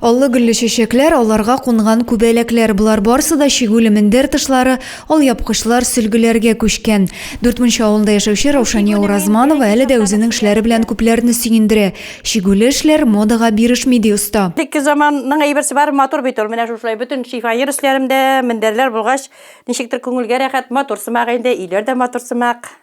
Аллы-гөлле чәчәкләр, аларга кунган күбәләкләр, болар барсы да чигүле мендәр тышлары, алъяпкычлар, сөлгеләргә күчкән. Дүртмунча авылында яшәүче Раушания Уразманова әле дә үзенең эшләре белән күпләрне сөендерә. Чигүле эшләр модага бирешми, ди оста. Элекке заманның әйберсе бары матур бит ул. Менә шушылай бөтен шифаер эшләрем дә мендәрләр булгач, ничектер күңелгә рәхәт, матур сымак инде, өйләр дә матур сымак.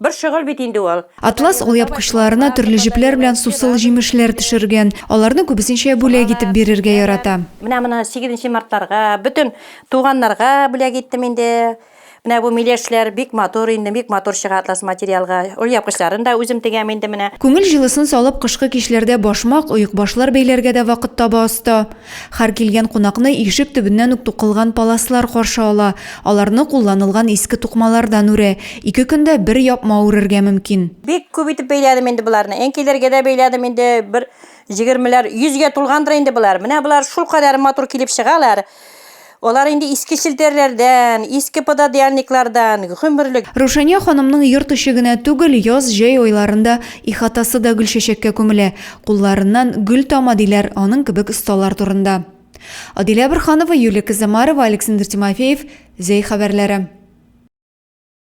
Бер шөгыль бит инде ул. Атлас алъяпкычларына төрле җепләр белән сусыл җимешләр төшергән. Аларны күбесенчә бүләк итеп бирергә ярата. Менә моны сигезенче мартларга, бөтен туганнарга бүләк иттем инде. Менә бу миләшләр бик матур инде, бик матур чыга атлас материалга. Алъяпкычларын да үзем тегәм инде менә. Күңел җылысын салып, кышкы кичләрдә башмак, оекбашлар бәйләргә дә вакыт таба оста. Һәр килгән кунакны ишек төбеннән үк тукылган паласлар каршы ала, аларны кулланылган иске тукмалардан үрә, ике көндә бер япма үрергә мөмкин. Бик күп итеп бәйләдем инде боларны, әнкәйләргә дә бәйләдем инде, бер җегермеләр, йөзгә тулгандыр инде болар. Менә болар шулкадәр матур килеп чыгалар. Алар инде иске челтәрләрдән, иске пододеяльниклардан, гомерлек. Рушания ханымның йорт эче генә түгел, яз, җәй айларында ихатасы да гөлчәчәккә күмелә. Кулларыннан гөл тама, диләр аның кебек осталар турында. Адилә Борханова, Юлия Кызамарова, Александр Тимофеев, Зәй хәбәрләре.